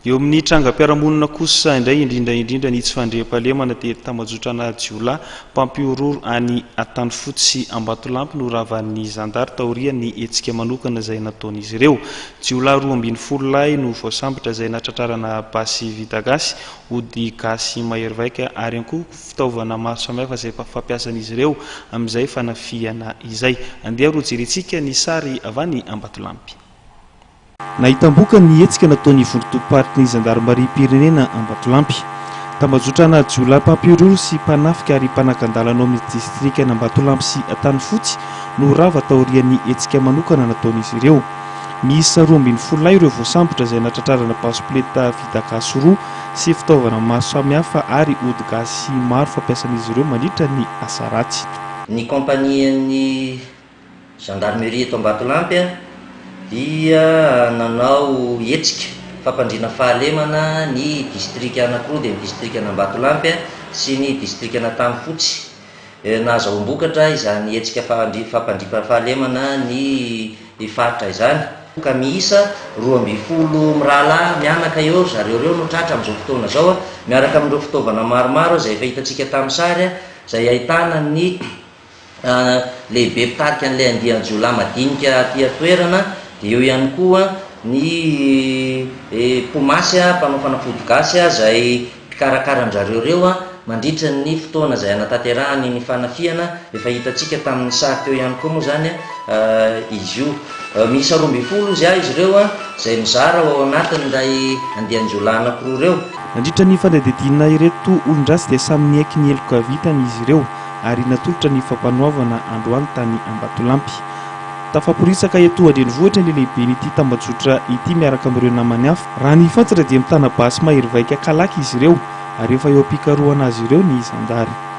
Eo amin'ny trangam-piarahamonina kosa indray, indrindra indrindra ny tsy fandriampahalemana dia tambajotrana jiolahy mpampihorohoro any Antanifotsy sy Ambatolampy no ravan'ny zandary taorian'ny hetsika manokana izay nataon'izy ireo. Jiolahy roa ambin'ny folo lahy no voasambotra izay natratrarana basy vita gasy, ody gasy mahery vaika ary ihany koa fitaovana maro samihafa izay fampiasan'izy ireo amin'izay fanafihana izay. Andeha roa jerentsika ny sary avy any Ambatolampy. Nahitam-boka ny hetsika nataon'ny vondron-tobim-paritry ny zandarimariam-pirenena Ambatolampy. Tambajotranà jiolahy mpampihorohoro sy mpanafika ary mpanakan-dàlana ao amin'ny distrikan'Ambatolampy sy Antanifotsy no rava taorian'ny hetsika manokana nataon'izy ireo. Miisa roa ambin'ny folo lahy ireo voasambotra izay natratrarana basikleta vita gasy roa sy fitaovana maro samihafa ary ody gasy maro fampiasan'izy ireo mandritra ny asa ratsy. Ny kaompanian'ny Gendarmerie eto Ambatolampy dia nanao hetsika fampandriana fahalemana ny distrika anankiroa dia ny distrikan'Ambatolampy sy ny distrikan'Antanifotsy. Nahazahoam-bokatra izany hetsika fampandriana fahalemana ny faritra izany. Ka miisa roa ambin'ny folo mirahalahy mianaka eo zareo ireo no tratra amin'izao fotoana izao miaraka amin'ireo fitaovana maromaro izay efa hitantsika tamin'ny sary izay ahitana ny lehibe mpitarika an'ilay andian-jiolahy madinika aty an-toerana, dia eo ihany koa ny mpomasy, mpanao fanafody gasy izay mpikarakara an-drizareo ireo mandritra ny fotoana izay hanatanterahany ny fanafihana, efa hitantsika tamin'ny sary teo ihany koa moa izany izy io. Miisa roa ambin'ny folo ozy izy ireo izay mizara ao anatin'ilay andian-jiolahy anankiroa ireo. Nandritra ny fanadihadiana ireto olon-dratsy dia samy niaiky ny heloka vitany izy ireo. ary natolotra ny Fampanoavana androany tany Ambatolampy. Tafaporitsaka etoa an-drenivohitra ny lehiben'ity tambajotra ity miaraka amin'ireo namany hafa. Raha ny fantatra dia mitana basy mahery vaika kalaky izy ireo ary efa eo am-pikarohana azy ireo ny zandary.